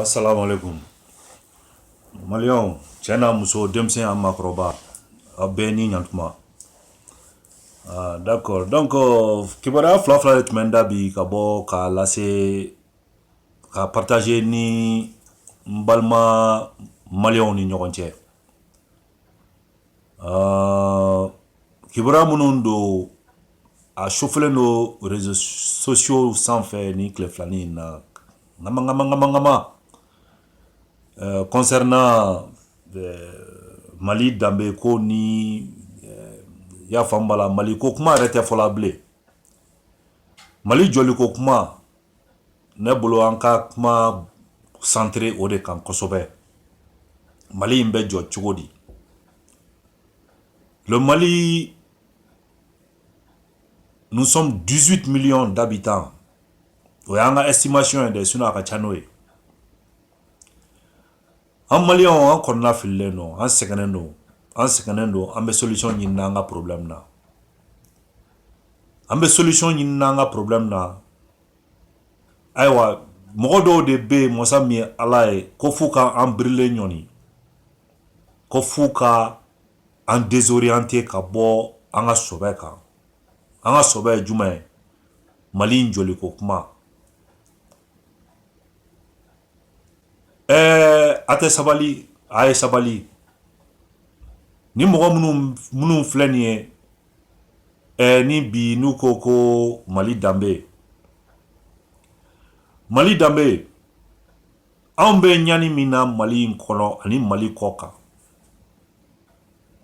Assalamu alaikum. Maliyɛnw cɛ n'a muso denmisɛn a maakɔrɔba a bɛɛ ni ɲantuma ah, d'accord donc kibaruya fila fila de tun bɛ n da bi ka bɔ k'a lase ka partager ni n balima maliyɛnw ni ɲɔgɔn cɛ kibaruya minnu don a chauffélen don réseaux sociaux sanfɛ nin tile filanin in na nkamakamakama concernant mali danbe ko n'i y'a faamu bala mali ko kuma yɛrɛ tɛ fɔla bilen mali jɔli ko kuma ne bolo an ka kuma centré o de kan kosɛbɛ mali in bɛ jɔ cogo di le mali nous sommes 18 millions d'habitants o y'an ka estimation ye dɛ sinon a ka ca n'o ye An maliyɛnw an kɔnɔna fililen don an sɛgɛnnen don an sɛgɛnnen don an bɛ solution ɲinina an ka problème na an bɛ solution ɲinina an ka problème na ayiwa mɔgɔ dɔw de bɛ yen masa min ye ala ye ko f'u ka an bila ɲɔgɔn na ko f'u ka an désorienter ka bɔ an ka sɔbɛ kan an ka sɔbɛ ye jumɛn ye mali in jɔli ko kuma Ɛɛ a tɛ sabali a ye sabali ni mɔgɔ minnu filɛ nin ye ɛɛ ni bi n'u ko ko mali danbe mali danbe anw bɛ ɲani min na mali in kɔnɔ ani mali kɔ kan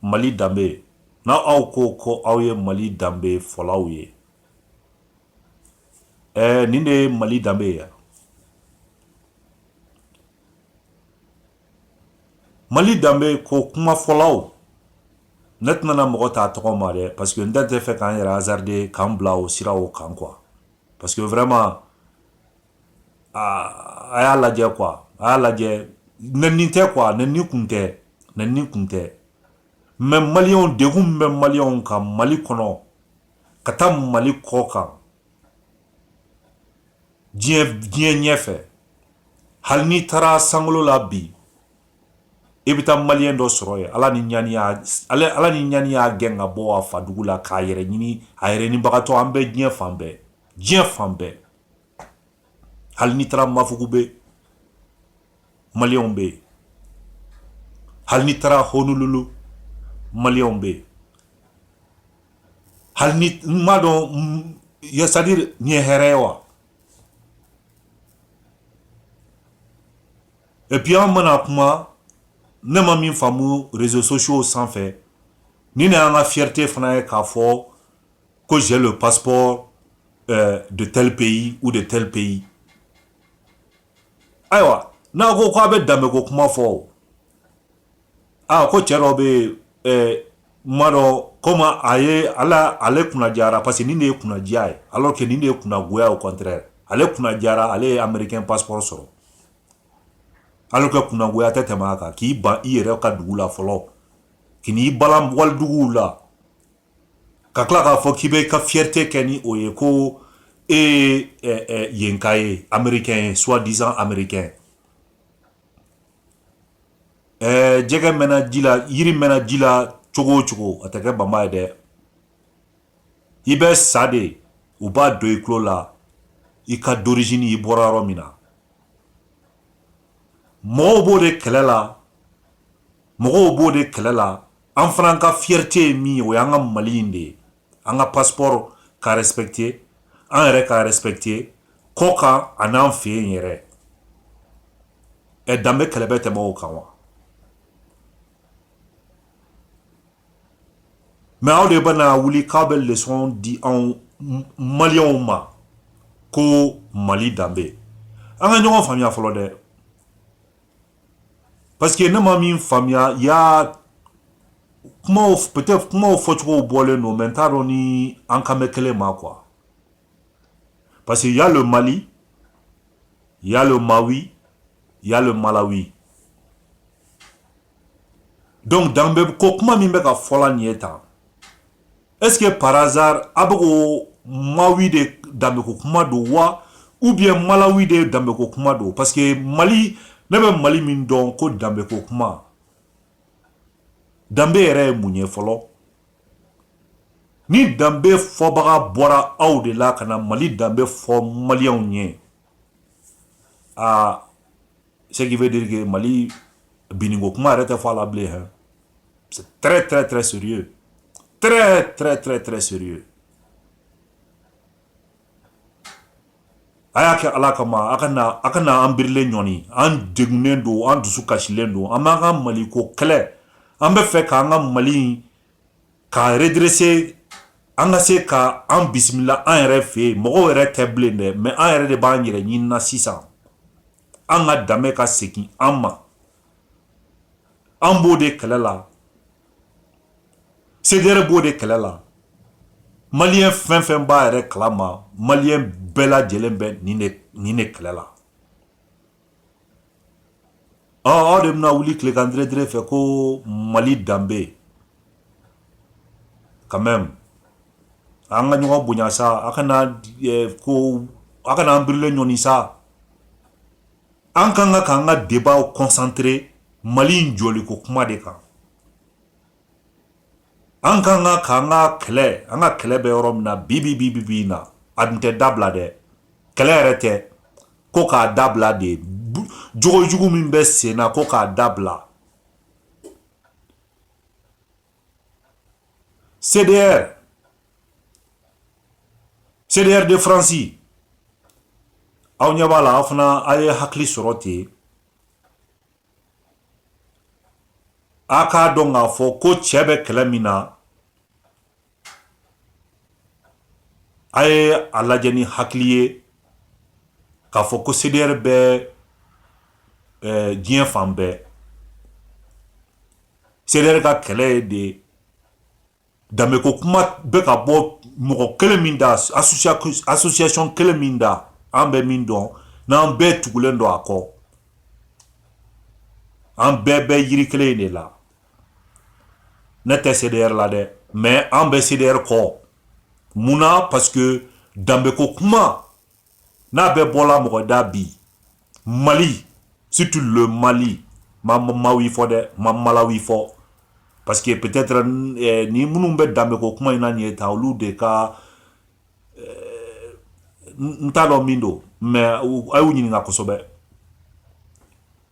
mali danbe n'aw ko ko aw ye mali danbe fɔlaw ye Ɛɛ nin de ye mali danbe ye yan mali danbe ko kuma fɔlaw ne tɛna mɔgɔ ta tɔgɔ ma dɛ parce que ne t'a fɛ ka n yɛrɛ hasarder ka n bila o sira o kan quoi parce que vraiment a y'a lajɛ quoi a y'a lajɛ nɛni tɛ quoi nɛni kun tɛ nɛni kun tɛ mais maliyɛnw degun min bɛ maliyɛnw kan mali kɔnɔ ka taa mali kɔ kan diɲɛ diɲɛ ɲɛ fɛ hali n'i taara sankolo la bi i bɛ taa maliyɛn dɔ sɔrɔ yen ala ni ɲani y'a gɛn ka bɔ a fadugu la k'a yɛrɛ ɲini a yɛrɛ ɲinibagatɔ an bɛ diɲɛ fan bɛɛ diɲɛ fan bɛɛ hali n'i taara mafugu bɛ maliyɛnw bɛ yen hali n'i taara Honolulu maliyɛnw bɛ yen hali ni n m'a dɔn c'est-à-dire nin ye hɛrɛ ye wa et puis an mana kuma ne ma min faamu réseaux sociaux sanfɛ ni ne y'an ka fierté fana ye k'a fɔ ko j'ai le passeport euh, de tel pays ou de tel pays ayiwa n'a ko k'a bɛ danbeko kuma fɔ o a ko cɛ dɔ bɛ yen ɛɛ n m'a dɔn comme ale kunnajara parce que nin de ye kunnadiya ye alors que nin de ye kunnagoya au contraire ale kunnajara ale ye américain passeport sɔrɔ alors que kunnagoya tɛ tɛmɛ a kan k'i ban i yɛrɛ ka dugu la fɔlɔ k'i n'i balan waliduguw la ka tila k'a fɔ k'i bɛ ka fierté kɛ ni o ye ko e ye yenka ye américain ye soi disant américain ɛɛ jɛgɛ mɛnna ji la yiri mɛnna ji la cogo o cogo a tɛ kɛ banba ye dɛ i bɛ sa de u b'a don i tulo la i ka d'origine i bɔra yɔrɔ min na mɔgɔw b'o de kɛlɛ la mɔgɔw b'o de kɛlɛ la an fana ka fierté ye min ye o y'an ka mali in de ye an ka passeport ka respecter an yɛrɛ ka respecter kɔ kan a n'an fɛ yen yɛrɛ ɛ danbe kɛlɛ bɛ tɛmɛ o kan wa mais aw de bɛna wuli k'aw bɛ leçon di anw maliyɛnw ma ko mali danbe an ka ɲɔgɔn faamuya fɔlɔ dɛ Parce que ne ma min faamuya ya kuma peut-être kumaw fɔcogo bɔlen don mais n t'a dɔn ni an kan bɛ kelen ma quoi parce que y'a le mali y'a le mawi y'a le malawi donc danbe ko kuma min bɛ ka fɔla nin ye tan Est-ce que par hasard a bɛ k'o Mawi de danbeko kuma don wa ou bien Malawi de danbeko kuma don parce que Mali ne bɛ Mali min dɔn ko danbeko kuma danbe yɛrɛ ye mun ye fɔlɔ ni danbe fɔbaga bɔra aw de la ka na Mali danbe fɔ maliyɛnw ye aa ce qui veut dire que Mali binniko kuma yɛrɛ tɛ fɔ a la bilen hein c'est très très très sérieux très très très très sérieux a y'a kɛ ala kama a kana a kana an birilen ɲɔni an degunnen don an dusu kasilen don an b'an ka maliko kɛlɛ an bɛ fɛ k'an ka mali ka redresser an ka se ka an bisimila an yɛrɛ fɛ yen mɔgɔ wɛrɛ tɛ bilen dɛ mais an yɛrɛ de b'an yɛrɛ ɲinina sisan an ka danbe ka segin an ma an b'o de kɛlɛ la CDR b'o de kɛlɛ la Malien fɛn fɛn b'a yɛrɛ kalama Malien bɛɛ lajɛlen bɛ nin de kɛlɛ la aw de bɛna wuli tilegan dere fɛ ko mali danbe Quand même an ka ɲɔgɔn bonya sa a kana ko a kana an birilen ɲɔni sa an kan ka k'an ka débat concentrer mali jɔli ko kuma de kan an kan ka k'an ka kɛlɛ an ka kɛlɛ bɛ yɔrɔ min na bibi bi bi na a dun tɛ dabila dɛ kɛlɛ yɛrɛ tɛ ko k'a dabila dɛ jogo jugu min bɛ sen na ko k'a dabila CDR CDR de France aw ɲɛ b'a la aw fana a ye hakili sɔrɔ ten a k'a dɔn k'a fɔ ko cɛ bɛ kɛlɛ min na A ye a lajɛ ni hakili ye k'a fɔ ko CDR bɛ diɲɛ fan bɛɛ CDR ka kɛlɛ ye de danbe ko kuma bɛ ka bɔ mɔgɔ kelen min da association kelen min da an bɛ min dɔn n'an bɛɛ tugulen don a kɔ an bɛɛ bɛ yiri kelen in de la ne tɛ CDR la dɛ mais an bɛ CDR kɔ mun na parce que danbeko kuma n'a bɛ bɔla mɔgɔ da bi Mali surtout le Mali n ma Malawi fɔ dɛ n ma Malawi fɔ parce que peut-être eh, ni minnu bɛ danbeko kuma in na nin ye tan olu de ka n t'a dɔn min don mais a y'u ɲininka kosɛbɛ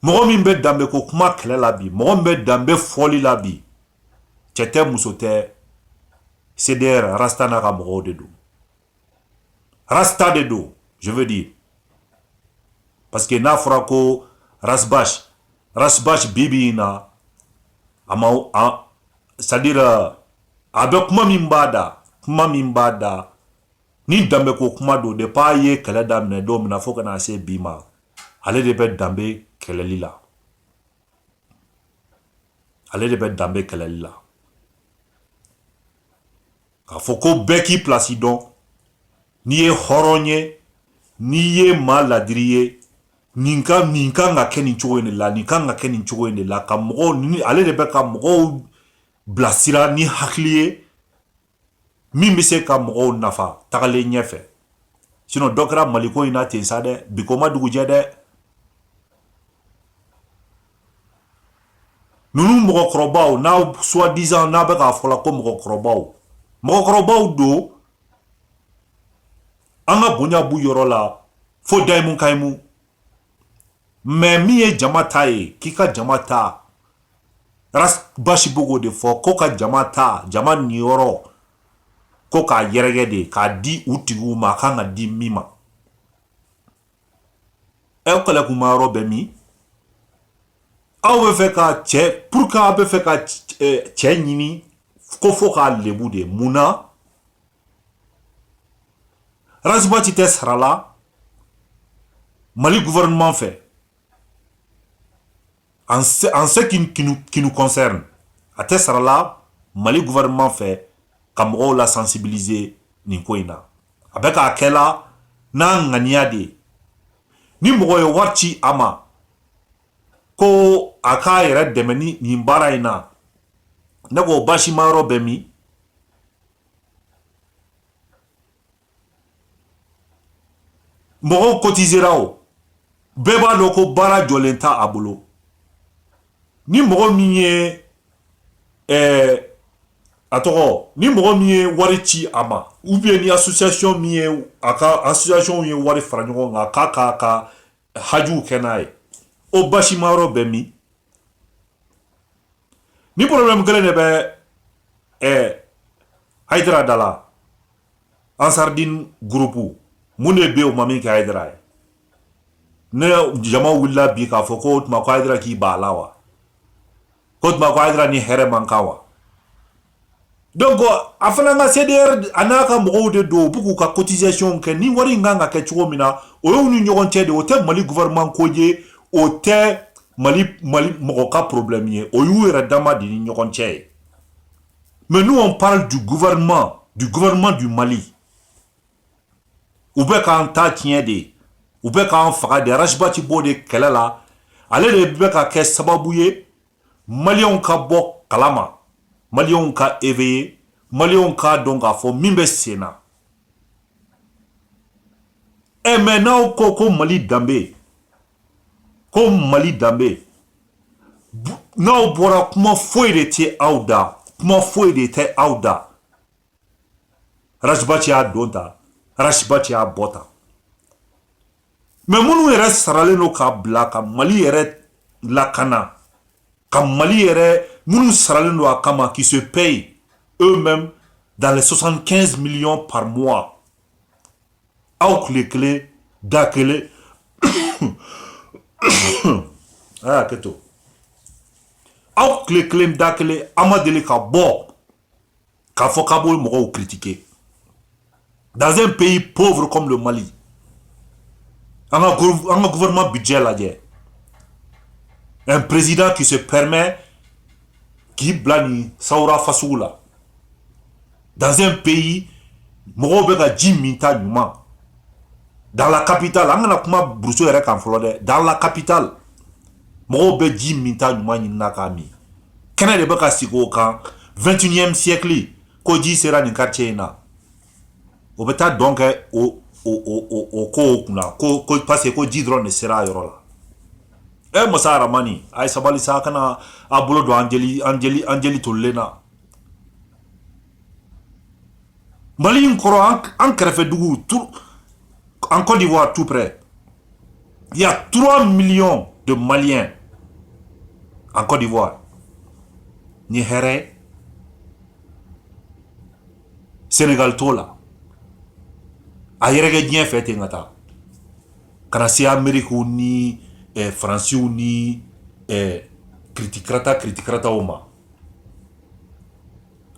mɔgɔ min bɛ danbe ko kuma kɛlɛ la bi mɔgɔ min bɛ danbe fɔli la bi cɛ tɛ muso tɛ cdr rasta n'a ka mɔgɔw de don rasta de don je veux dire parce que n'a fɔra ko Ras Bath Ras Bath bi bi in na a ma c'est à dire a bɛ kuma min b'a da kuma min b'a da ni danbe ko kuma don depuis a ye kɛlɛ daminɛ don min na fo ka na se bi ma ale de bɛ danbe kɛlɛli la k'a fɔ ko bɛɛ k'i pilasi dɔn n'i ye hɔrɔn ye n'i ye maa ladiri ye nin ka nin kan ka kɛ nin cogo in de la nin kan ka kɛ nin cogo in de la ka mɔgɔw ni ale de bɛ ka mɔgɔw bilasira ni hakili ye min bɛ se ka mɔgɔw nafa tagalen ɲɛfɛ sinon dɔ kɛra mali ko in na ten sa dɛ bi ko ma dugujɛ dɛ ninnu mɔgɔkɔrɔbaw n'a soi-disant n'a bɛ k'a fɔla ko mɔgɔkɔrɔbaw mɔgɔkɔrɔbaw don an ka bonya b'u yɔrɔ la fo dayimu kayimu mais min ye jama ta ye k'i ka jama ta basi b'o de fɔ ko ka jama ta jama niyɔrɔ ko k'a yɛrɛgɛ de k'a di u tigiw ma a kan ka di min ma o kɛlɛkunma yɔrɔ bɛ min aw bɛ fɛ ka cɛ pourquoi aw bɛ fɛ ka cɛ ɲini ko fo k'a lebu de mun na Rasibati tɛ sara la mali gouvernement fɛ en ce qui, qui nous concerne a tɛ sara la mali gouvernement fɛ ka mɔgɔw la sensibiliser nin ko in na a bɛ k'a kɛla n'a ŋaniya de ni mɔgɔ ye wari ci a ma ko a k'a yɛrɛ dɛmɛ ni nin baara in na ne k'o basima yɔrɔ bɛ min mɔgɔw cotisera o bɛɛ b'a dɔn ko baara jɔlen t'a bolo ni mɔgɔ min ye ɛɛ a tɔgɔ ni mɔgɔ min ye wari ci a ma ou bien ni association min ye a ka association ye wari fara ɲɔgɔn kan k'a k'a ka hajuw kɛ n'a ye o basima yɔrɔ bɛ min ni problème kelen de bɛ ɛɛ hayidara da la ansardin groupe mun de bɛ yen o ma min kɛ hayidara ye ni jama wulila bi k'a fɔ ko o tuma ko hayidara k'i b'a la wa k'o tuma ko hayidara ni hɛrɛ man kan wa donc a fana ka cdr a n'a ka mɔgɔw de don u bɛ k'u ka cotisation kɛ ni wari in kan ka kɛ cogo min na o y'u ni ɲɔgɔn cɛ de o tɛ mali gouvernement ko ye o tɛ mali mali mɔgɔ ka problème ye o y'u yɛrɛ dama de ni ɲɔgɔn cɛ ye mais nous on parle du gouvernement du gouvernement du mali u bɛ k'an ta tiɲɛ de u bɛ k'an faga de rasibati b'o de kɛlɛ la ale de bɛ ka kɛ sababu ye maliyɛnw ka bɔ kalama maliyɛnw ka éveiller maliyɛnw k'a dɔn k'a fɔ min bɛ sen na ɛ mais n'aw ko ko mali danbe ko mali danbe n'aw bɔra kuma foyi de tɛ aw da kuma foyi de tɛ aw da Ras Bath y'a don tan Ras Bath y'a bɔ tan mais minnu yɛrɛ saralen don k'a bila ka mali yɛrɛ lakana ka mali yɛrɛ minnu saralen don a kama qui sont payés eux-mêmes dans soixante-quinze millions par mois aw tile kelen da kelen a ye hakɛ to aw tile kelen da kelen a ma deli ka bɔ k'a fɔ k'a b'o mɔgɔw critiquer dans un pays pauvre comme le Mali an ka an ka gouvernement budget lajɛ un président qui se permet k'i bila nin sawura fasugu la dans un pays mɔgɔw bɛ ka ji minta ɲuman dans la capitale an kana kuma buruso yɛrɛ kan fɔlɔ dɛ dans la capitale mɔgɔw bɛ ji minta ɲuman ɲinina k'a min kɛnɛ de bɛ ka sigi o kan 21e siècle ko ji sera nin quartier in na o bɛ taa dɔn kɛ o o ko kunna ko ko parce que ko ji dɔrɔn de sera a yɔrɔ la ɛ masa aramani a ye sabali sa kana a bolo don an jeli an jeli an jeli tolilen na Mali in kɔrɔ an kɛrɛfɛ dugu en Côte d'Ivoire tout près y a trois millions de Maliens en Côte d'Ivoire ni hɛrɛ Sénégal t'o la a yɛrɛkɛ diɲɛ fɛ ten ka taa kana se Amérique ni Faransiw ni kiti karatata kiti karatataw ma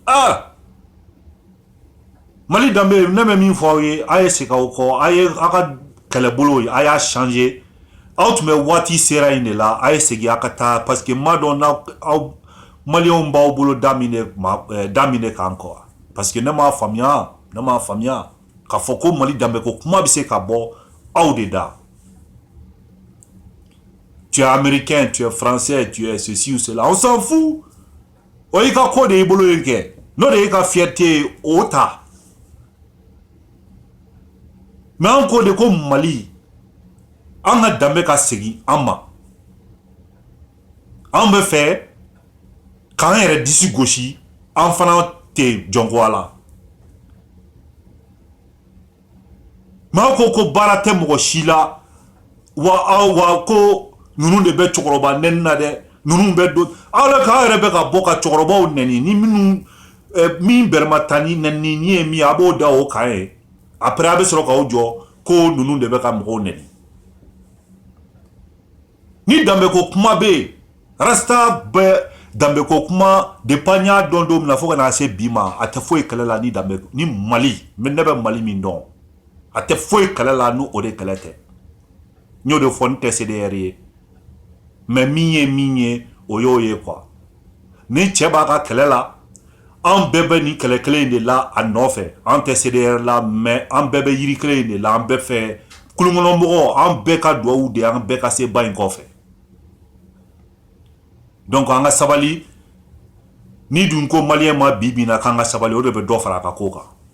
Ah! Mali danbe ne bɛ min fɔ aw ye a ye segin aw kɔ a ye aw ka kɛlɛbolo ye a y'a changer aw tun bɛ waati sera in de la a ye segin aw ka taa parce que m'a dɔn n'aw aw maliyɛnw b'aw bolo da min de ma eh, da min de kan quoi parce que ne m'a faamuya ne m'a faamuya k'a fɔ ko Mali danbe ko kuma bɛ se ka bɔ aw de da tu es américain, tu es français, tu es ceci ou cela. On s'en fout. O y'i ka ko de y'i bolo yen kɛ. N'o de y'i ka fierté ye, o ta. Mais an ko de ko Mali, an ka danbe ka segin an ma. An bɛ fɛ k'an yɛrɛ disi gosi, an fana tɛ jɔnko a la. maa ko ko baara tɛ mɔgɔ si la wa aw wa ko ninnu de bɛ cɛkɔrɔba nɛni na dɛ ninnu bɛ don aw la k'aw yɛrɛ bɛ ka bɔ ka cɛkɔrɔbaw nɛni ni minnu eh, min bɛrɛma ta ni nɛnini ye min ye a b'o da o kan ye après a bɛ sɔrɔ k'aw jɔ ko ninnu de bɛ ka mɔgɔw nɛni ni danbeko kuma bɛ yen rasta bɛ danbeko kuma depuis an y'a dɔn don min na fo ka na se bi ma a tɛ foyi kɛlɛ la ni mali ne bɛ mali min dɔn a tɛ foyi kɛlɛ la n' o de kɛlɛ tɛ n y'o de fɔ n tɛ CDR ye mais min ye min ye o y'o ye quoi Ni cɛ b'a ka kɛlɛ la an bɛɛ bɛ nin kɛlɛ kelen in de la a nɔfɛ an tɛ CDR la mais an bɛɛ bɛ yiri kelen in de la an bɛɛ fɛ kulunkɔnɔmɔgɔw an bɛɛ ka dugawu de an bɛɛ ka se ba in kɔfɛ donc an ka sabali n'i dun ko maliyɛnw ma bi bi in na k'an ka sabali o de bɛ dɔ fara a ka ko kan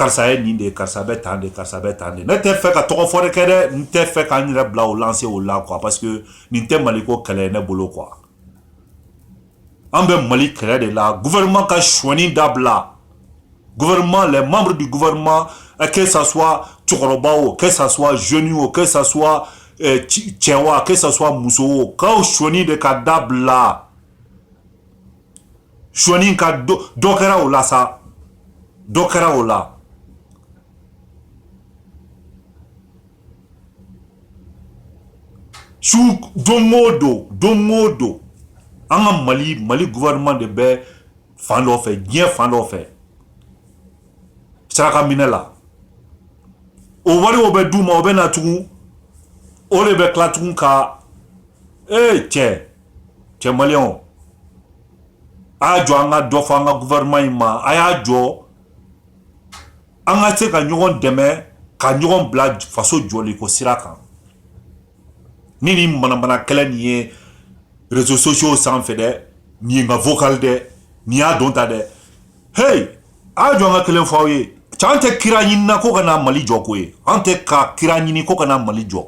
karisa ye nin de ye karisa bɛ tan de karisa bɛ tan de ne tɛ fɛ ka tɔgɔfɔli kɛ dɛ n tɛ fɛ ka n yɛrɛ bila o lancée o la quoi parce que nin tɛ mali ko kɛlɛ ye ne bolo quoi an bɛ mali kɛlɛ de la gouvernement ka sonyali dabila gouvernement les membres du gouvernement que ça soit cɛkɔrɔba o que ça soit jeune o que ça soit cɛ o que ça soit muso o sonyali de ka dabila sonyali ka dɔ kɛra o la sa dɔ kɛra o la su don o don don o don an ka mali mali gouvernement de bɛ fan dɔ fɛ diɲɛ fan dɔ fɛ saraka minɛ la o wari o bɛ d'u ma o bɛ na tugun olu bɛ tila tugun ka ee cɛ cɛ maliyɛnw a y'a jɔ an ka dɔ fɔ an ka gouvernement in ma a y'a jɔ an ka se ka ɲɔgɔn dɛmɛ ka ɲɔgɔn bila faso jɔliko sira kan ni nin manamana kɛlɛ nin ye réseaux sociaux sanfɛ dɛ nin ye n ka vocal dɛ nin y'a don ta dɛ hey a y'a jɔ an ka kelen fɔ aw ye cɛ an tɛ kira ɲini na ko ka na mali jɔ koyi an tɛ ka kira ɲini ko ka na mali jɔ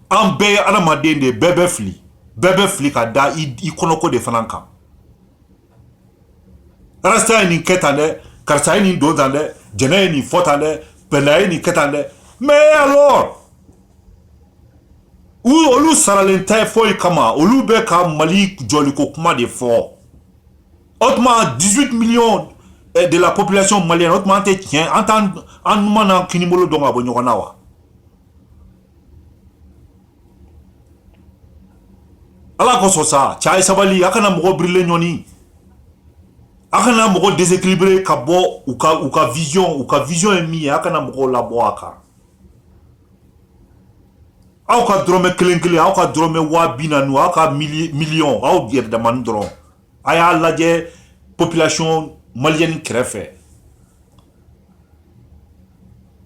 an bɛɛ adamaden de bɛɛ bɛ fili bɛɛ bɛ fili ka da i kɔnɔko de fana kan rasta ye nin kɛ tan dɛ karisa ye nin don tan dɛ jɛnɛ ye nin fɔ tan dɛ pɛlɛya ye nin kɛ tan dɛ mais alors u olu saralen tɛ foyi kama olu bɛ ka mali jɔliko kuma de fɔ o tuma 18 millions eh, de la population malienne o tuma an tɛ tiɲɛ an t'an an numan n'an kinibolo dɔn ka bɔ ɲɔgɔn na wa ala kosɔn sa cɛ a ye sabali a kana mɔgɔ birilen ɲɔni a kana mɔgɔ déséquilibré ka bɔ u ka u ka vision u ka vision ye min ye a kana mɔgɔw labɔ a kan aw ka dɔrɔmɛ kelen kelen aw ka dɔrɔmɛ waa bi naani aw ka miliyɔn aw yɛrɛ damani dɔrɔn a y'a lajɛ population malienne kɛrɛfɛ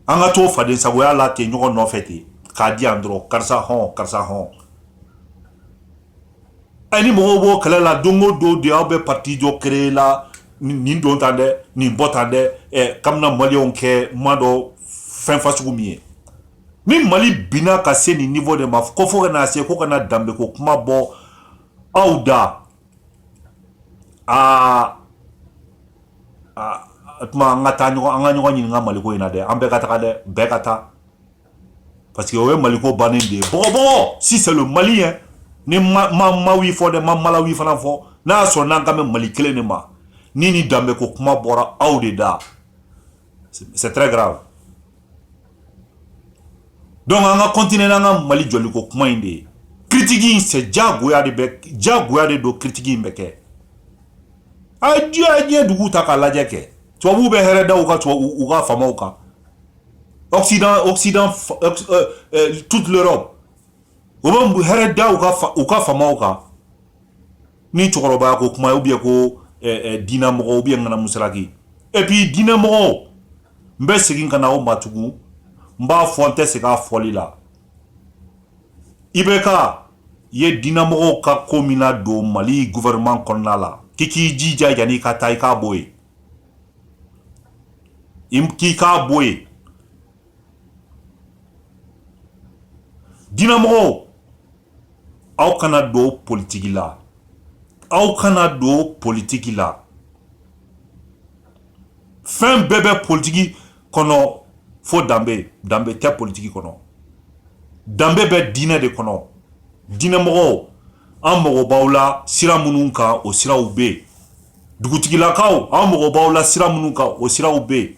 an ka to faden sagoya la ten ɲɔgɔn nɔfɛ ten k'a di yan dɔrɔn karisa hɔn karisa hɔn ani mɔgɔw b'o kɛlɛ la don o don de aw bɛ parti jɔ créer la nin don tan dɛ nin bɔ tan dɛ ɛ kabina maliyɛnw kɛ ma dɔ fɛn fasugu min ye ni mali binna ka se nin niveau de ma ko fo ka na se ko ka na danbeko kuma bɔ aw da aa o tuma an ka taa ɲɔgɔn an ka ɲɔgɔn ɲininka maliko in na dɛ an bɛɛ ka taga dɛ bɛɛ ka taa parce que o ye maliko bannen de ye bɔgɔbɔgɔ si c'est le mali hein ni ma ma mawi fɔ dɛ ma malawi fana fɔ n'a y'a sɔrɔ n'an kan bɛ mali kelen de ma ni ni danbe ko kuma bɔra aw de da c'est très grave donc an ka kɔntine n'an ka mali jɔliko kuma in de ye critique in c'est jagoya de bɛ jagoya de don critique in bɛ kɛ a ye diɲɛ diɲɛ duguw ta k'a lajɛ kɛ tubabuw bɛ hɛrɛ da u ka tubabu u ka faamaw kan occident occident euh, euh, toute l'europe u bɛ hɛrɛ da u ka u ka faamaw kan ni cɛkɔrɔba ko kuma ou bien ko diinɛ mɔgɔw ou bien kana musalaki et puis diinɛ mɔgɔw n bɛ segin ka na o ma tugun n b'a fɔ n tɛ sɛgɛn a fɔli la IBK i ye diinɛ mɔgɔw ka ko min nadon mali gouvernement kɔnɔna la k'i k'i jija yani i ka taa i k'a bɔ yen k'i k'a bɔ yen diinɛ mɔgɔw aw kana don politigi la aw kana don politigi la fɛn bɛɛ bɛ politigi kɔnɔ fo danbe danbe tɛ politigi kɔnɔ danbe bɛ diinɛ de kɔnɔ diinɛmɔgɔw an mago b'aw la sira minnu kan o siraw bɛ yen dugutigilakaw an mago b'aw la sira minnu kan o siraw bɛ yen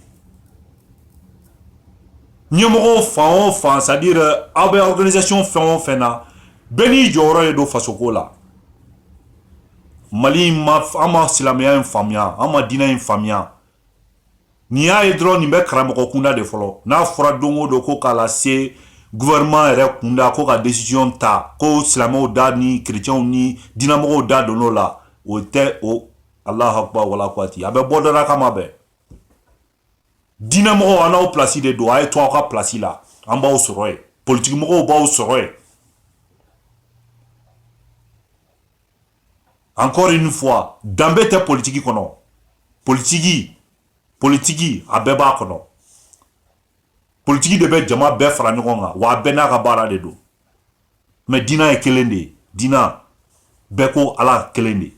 ɲɛmɔgɔ fan o fan c'est à dire aw bɛ organisation fɛn o fɛn na bɛɛ n'i jɔyɔrɔ de don fasoko la mali ma an ma silamɛya in faamuya an ma diinɛ in faamuya nin y'a ye dɔrɔn nin bɛ karamɔgɔ kunda de fɔlɔ n'a fɔra don o don ko k'a lase gouvernement yɛrɛ kunda ko ka décision ta ko silamɛw da ni chrétienw ni diinɛmɔgɔw da don o la o tɛ o alahu akubar wala kuwati a bɛ bɔ dɔ la kama bɛɛ diinɛmɔgɔw an n'aw plasi de don a ye to aw ka plasi la an b'aw sɔrɔ yen politikimɔgɔw b'aw sɔrɔ yen encore une fois danbe tɛ politiki kɔnɔ politiki politiki a bɛɛ b'a kɔnɔ politiki de bɛ jama bɛɛ fara ɲɔgɔn kan wa a bɛɛ n'a ka baara de don mais dina ye kelen de ye dina bɛɛ ko ala kelen de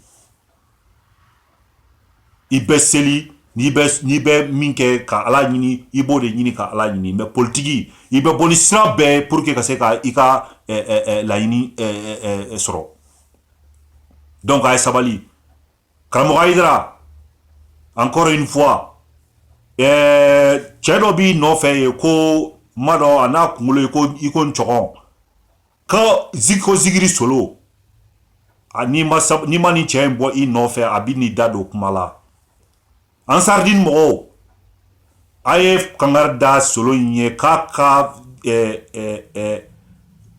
i bɛ seli n'i bɛ min kɛ ka ala ɲini i b'o de ɲini ka ala ɲini mais politiki i bɛ bɔ ni sira bɛɛ pour que ka se ka i ka laɲini sɔrɔ donc a ye sabali Karamɔgɔ Ayidara encore une fois ɛɛ eh, cɛ dɔ b'i nɔfɛ yen ko n m'a dɔn a n'a kunkolo ye ko i ko ncɔgɔn ko zigi ko zigiri solo n'i ma n'i ma nin cɛ in bɔ i nɔfɛ a bɛn'i da don kuma la Ansaridini mɔgɔw a ye kangari da solo in ye k'a ka eh, eh, eh,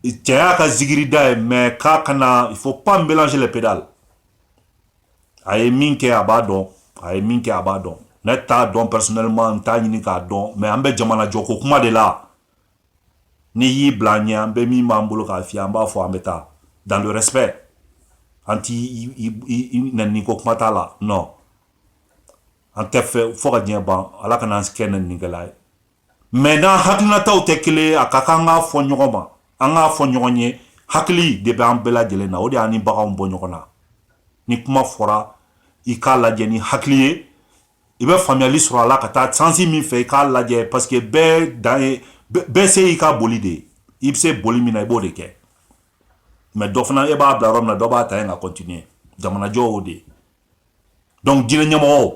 cɛya ka zigiri da ye mais k'a kana il faut pas mélanger les pédales a ye min kɛ a b'a dɔn a ye min kɛ a b'a dɔn ne t'a dɔn personnellement n t'a ɲini k'a dɔn mais an bɛ jamana jɔ ko kuma de la n'i y'i bila an ɲɛ an bɛ min b'an bolo k'a f'i ye an b'a fɔ an bɛ taa dans le respect an t'i nɛni ko kuma t'a la non an tɛ fɛ fo ka diɲɛ ban ala kana an kɛ nɛnikɛla ye mais n'an hakilinataw tɛ kelen a ka kan k'a fɔ ɲɔgɔn ma an k'a fɔ ɲɔgɔn ye hakili de bɛ an bɛɛ lajɛlen na o de y'an ni baganw bɔ ɲɔgɔn na ni kuma fɔra i k'a lajɛ ni hakili ye i bɛ faamuyali sɔrɔ a la ka taa sens min fɛ i k'a lajɛ parce que bɛɛ dan ye bɛɛ se y'i ka boli de ye i bɛ se boli min na i b'o de kɛ mais dɔ fana e b'a bila yɔrɔ min na dɔ b'a ta yen ka continuer jamanajɔ o de ye donc diinɛ ɲɛmɔgɔw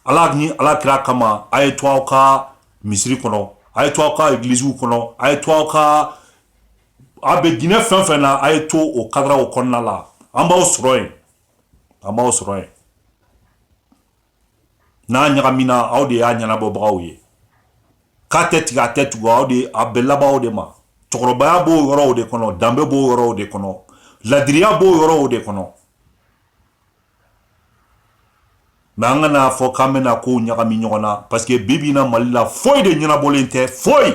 ala ni ala kira kama a ye to aw ka misiri kɔnɔ a ye to aw ka egiliziw kɔnɔ a ye to aw ka a bɛ diinɛ fɛn fɛn na a ye to o kadara o kɔnɔna la an b'aw sɔrɔ yen an b'aw sɔrɔ yen n'a ɲagamina aw de y'a ɲɛnabɔbagaw ye k'a tɛ tigɛ a tɛ tugu aw de a bɛ laban aw de ma cɛkɔrɔbaya b'o yɔrɔw de kɔnɔ danbe b'o yɔrɔw de kɔnɔ ladiriya b'o yɔrɔw de kɔnɔ mais an kan'a fɔ k'an bɛna kow ɲagami ɲɔgɔn na parce que bi bi in na mali la foyi de ɲɛnabɔlen tɛ foyi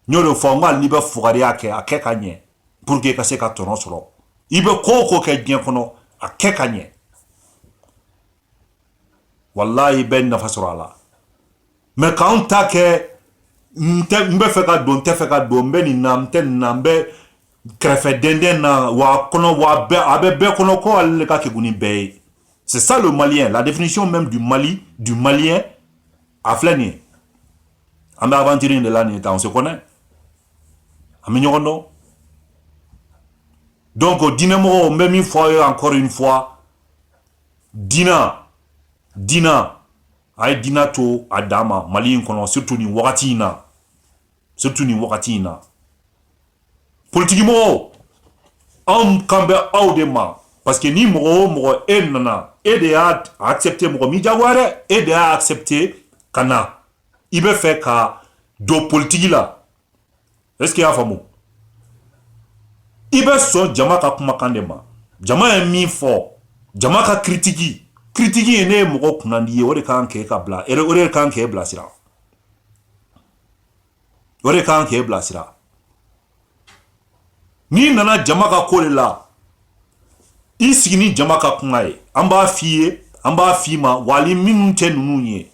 n y'o de fɔ n ko hali n'i bɛ fugariya kɛ a kɛ ka ɲɛ pour que ka se ka tɔnɔ sɔrɔ i bɛ ko o ko kɛ diɲɛ kɔnɔ a kɛ ka ɲɛ walayi i bɛ nafa sɔrɔ a la mais k'an ta kɛ n bɛ fɛ ka don n tɛ fɛ ka don n bɛ nin na n tɛ nin na n bɛ kɛrɛfɛ dɛndɛn na wa kɔnɔ wa a bɛ bɛɛ kɔnɔ ko ale de ka kegun ni bɛɛ ye c'est ça le malien la définition même du mali du malien a filɛ nin ye an bɛ aventure in de la nin ye tan on se connaît an bɛ ɲɔgɔn dɔn donc diinɛmɔgɔw n bɛ min fɔ aw ye encore une fois Dina dina a ye dina to a dan ma mali in kɔnɔ surtout nin wagati in na surtout nin wagati in na politikimɔgɔw anw kan bɛ aw de ma parce que ni mɔgɔ o mɔgɔ e nana e de y'a accepter mɔgɔ m'i jagoya dɛ e de y'a accepter ka na i bɛ fɛ ka don politiki la est ce que i y'a faamu i bɛ sɔn jama ka kumakan de ma jama ye min fɔ jama ka critique critique ye ne ye mɔgɔ kunnandi ye o de kan k'e ka bila o de kan k'e bilasira n'i nana jama ka ko de la i sigi ni jama ka kuma ye an b'a f'i ye an b'a f'i ma wa hali minnu tɛ ninnu ye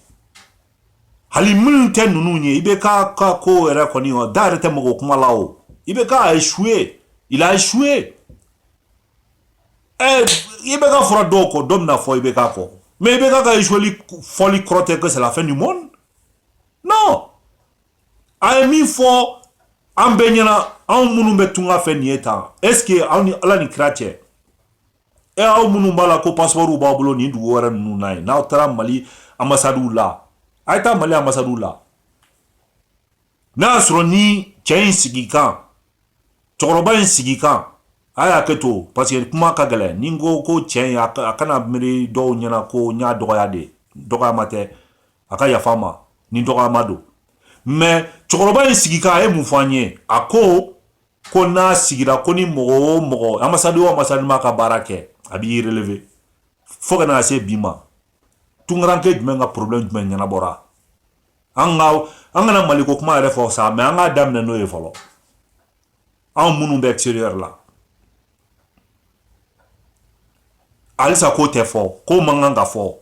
hali minnu tɛ ninnu ye IBK ka ko yɛrɛ kɔni o da yɛrɛ tɛ mɔgɔ kuma la o IBK a échoué il a échoué eh, IBK fɔra dɔw kɔ dɔ bɛna fɔ IBK kɔ mais IBK ka échoueli fɔli kɔrɔ tɛ que c'est la fin du monde non a ye min fɔ an bɛɛ ɲɛna anw minnu bɛ tunga fɛ nin ye tan est ce que aw ni ala ni kira cɛ e aw minnu b'a la ko passeport b'aw bolo nin dugu wɛrɛ ninnu na yen n'aw taara mali ambassade la a ye taa mali ambassade la n'a y'a sɔrɔ ni cɛ in sigi kan cɛkɔrɔba in sigi kan a ye hakɛ to parce que kuma ka gɛlɛn ni n ko ko cɛ in a kana miiri dɔw ɲɛna ko n y'a dɔgɔya de dɔgɔyama tɛ a ka yafa n ma ni dɔgɔyama don mais cɛkɔrɔba in sigi kan a ye mun fɔ an ye a ko ko n'a sigira ko ni mɔgɔ o mɔgɔ ambassade o ambassade m'a ka baara kɛ a b'i relever fo ka na se bi ma tunkaranke jumɛn ka problème jumɛn ɲɛnabɔra an kana maliko kuma yɛrɛ fɔ sa mais an k'a daminɛ n'o ye fɔlɔ anw minnu bɛ extérieur la halisa k'o tɛ fɔ k'o man kan ka fɔ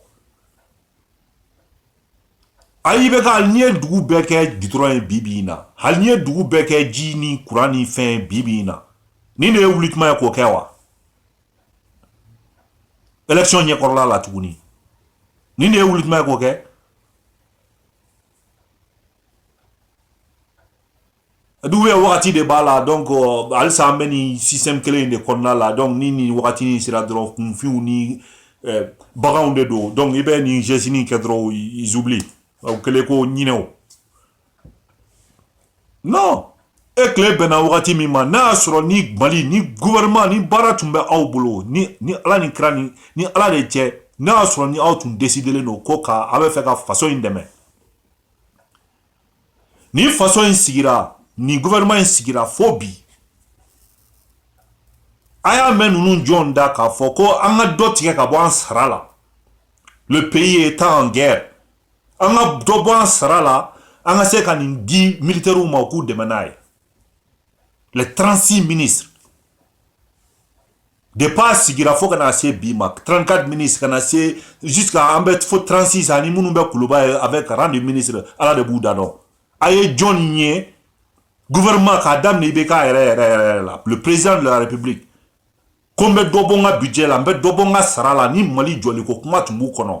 ayi IBK hali n'i ye dugu bɛɛ kɛ goudron ye bibi in na hali n'i ye dugu bɛɛ kɛ ji ni kuran ni fɛn bibi in na nin de ye wuli tuma ye k'o kɛ wa élection ɲɛkɔrɔla la tuguni nin de ye wuli tuma ye k'o kɛ dugu ye wagati de b'a la donc halisa an bɛ nin système kelen in de kɔnɔna la donc ni nin wagati in sera dɔrɔn kunfinw ni eh, baganw de don donc i bɛ nin geste in kɛ dɔrɔn ils oublient u kɛlen ko ɲinɛw non e tile bɛnna wagati min ma n'a y'a sɔrɔ ni mali ni gouvernement ni baara tun bɛ aw bolo ni ni ala ni kira ni ni ala de cɛ n'a y'a sɔrɔ ni aw tun décidelen don ko ka a bɛ fɛ ka faso in dɛmɛ ni faso in sigira ni gouvernement in sigira fo bi a y'a mɛn ninnu jɔn da k'a fɔ ko an ka dɔ tigɛ ka bɔ an sara la le pays est en guerre an ka dɔ bɔ an sara la an ka se ka nin di militaires ma u k'u dɛmɛ n'a ye les 36 ministres De b'a sigira fo kana na se bi ma tanranka mini ka na se an bɛ fo transi san ni minnu bɛ kuluba ye a bɛ ka de mini ala de b'u da dɔn a ye jɔn ye gma k'a daminɛ i bɛ k'a yɛrɛ yɛrɛ yɛrɛ la p perez larepibi ko n bɛ dɔbɔ ka bijɛ la n bɛ dɔbɔ ka sara la ni mali jɔli ko kuma tun b'u kɔnɔ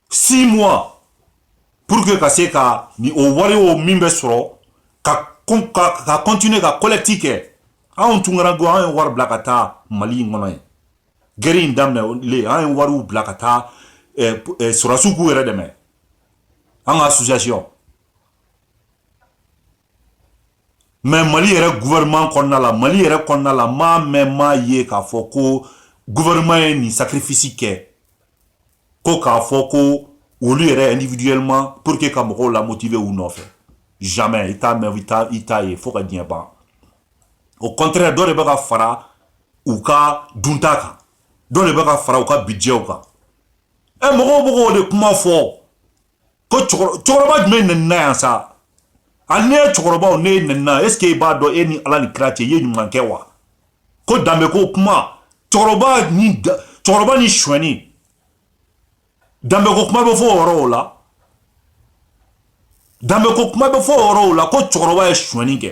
six mois pour que ka se ka ni o wari o min bɛ sɔrɔ ka ka ka continuer ka collecte kɛ anw tungarankɛw an ye wari bila ka taa mali in kɔnɔ yen guerre in daminɛlen an ye wariw bila ka taa eh, eh, sɔrɔsiw k'u yɛrɛ dɛmɛ an ka association mais mali yɛrɛ gouvernement kɔnɔna la mali yɛrɛ kɔnɔna la m'a mɛn m'a ye k'a fɔ ko gouvernement ye nin sacrifice kɛ ko k'a fɔ ko olu yɛrɛ individuellement pour que ka mɔgɔw la motiver u nɔfɛ jamais i t'a mɛn i t'a ye fo ka diɲɛ ban au contraire dɔ de bɛ ka fara u ka dunta kan dɔ de bɛ ka fara u ka budgetw kan ɛ mɔgɔw bɛ k'o de kuma fɔ ko cɛkɔrɔba jumɛn nɛnina yan sa hali ne ye cɛkɔrɔbaw ne ye nɛnina est ce que e b'a dɔn e ni ala ni kira cɛ i ye ɲuman kɛ wa ko danbe ko kuma cɛkɔrɔba ni cɛkɔrɔba ni suɲɛni danbe ko kuma bɛ fɔ o yɔrɔw la danbe ko kuma bɛ fɔ o yɔrɔw la ko cɛkɔrɔba ye suɲɛni kɛ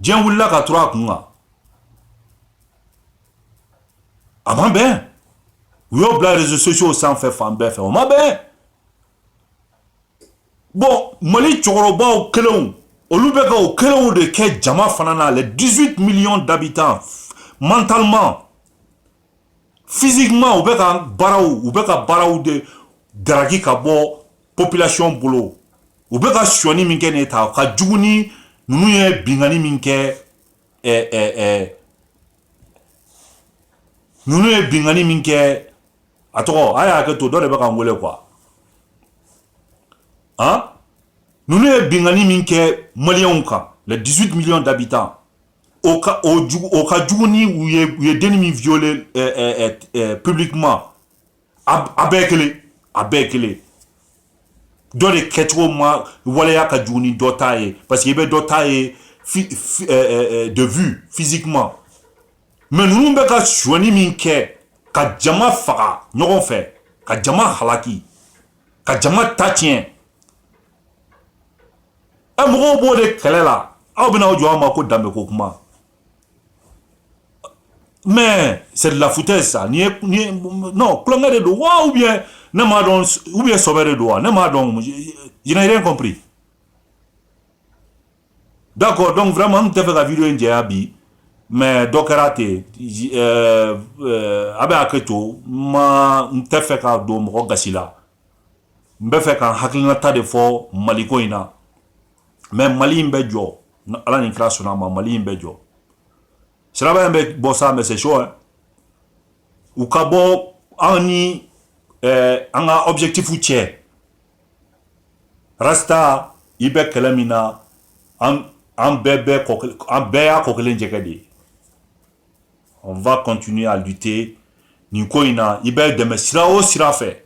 Diɲɛ wulila k'a turu a kun kan a ma bɛn u y'o bila réseaux sociaux sanfɛ fan bɛɛ fɛ o ma bɛn bon mali cɛkɔrɔbaw kelenw olu bɛ ka o kelenw de kɛ jama fana na les 18 millions d'habitants mentalement physiquement u bɛ ka baaraw u bɛ ka baaraw de daraki ka bɔ population bolo u bɛ ka suɲɛni min kɛ nin ta ka jugu ni ninnu ye bingani min kɛ ɛɛ eh, ɛɛ eh, eh. ninnu ye bingani min kɛ a tɔgɔ a y'a hakɛ to dɔ de bɛ ka n wele quoi han ninnu ye bingani min kɛ maliyɛnw kan les 18 millions d'habitants o ka o jugu o ka jugu ni u ye u ye denni min violer euh, euh, euh, publiquement a a bɛɛ kelen a bɛɛ kelen dɔ de kɛcogo ma waleya ka jugu ni dɔ ta ye parce que i bɛ dɔ ta ye fi, fi, euh, de vue physiquement mais ninnu bɛ ka sonyani min kɛ ka jama faga ɲɔgɔn fɛ ka jama halaki ka jama ta tiɲɛ ɛ mɔgɔw b'o de kɛlɛ la aw bɛna aw jɔ an ma ko danbe ko kuma mais c'est de la foutaise ça ni ni non tulonkɛ de don wa ou bien ne m'a dɔn ou bien sɔbɛ de don wa ne m'a dɔn je n'ai rien compris d'accord donc vraiment n tun tɛ fɛ ka video in janya bi mais dɔ kɛra ten a bɛ hakɛ to n ma n tɛ fɛ ka don mɔgɔ gasi la n bɛ fɛ ka n hakilinata de fɔ maliko in na mais mali in bɛ jɔ ni ala ni kira sɔnna a ma mali in bɛ jɔ siraba in bɛ bɔ sa mais c'est chaud u ka bɔ an ni eh, an ka objectif cɛ rasta i bɛ kɛlɛ min na an bɛɛ bɛɛ an bɛɛ y'a kɔ kelen jɛgɛ de ye On va continuer à lutter. Nin ko in na i bɛ dɛmɛ sira o sira fɛ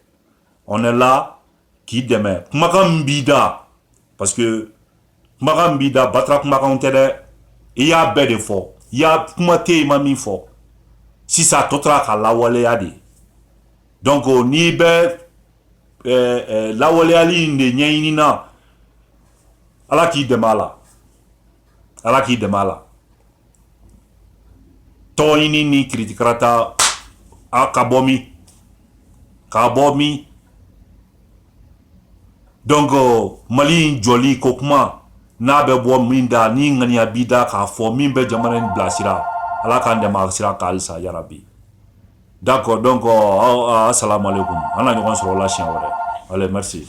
on est là k'i dɛmɛ kumakan min b'i da parce que kumakan min b'i da batara kumakanw tɛ dɛ i y'a bɛɛ de fɔ i y'a kuma tɛ yen i ma min fɔ sisan a tɔ tora k'a lawaleya de donc n'i bɛ eh, eh, lawaleyali in de ɲɛɲini na ala k'i dɛmɛ a la ala k'i dɛmɛ a la tɔgɔɲini ni kiritikarata a ka bɔ min ka bɔ min donc mali in jɔli ko kuma n'a bɛ bɔ min da ni ŋaniya b'i da k'a fɔ min bɛ jamana in bilasira ala k'an dɛmɛ a sira kan halisa yarabi d'accord donc assalamu alaikum an na ɲɔgɔn sɔrɔ la siɲɛ wɛrɛ allez merci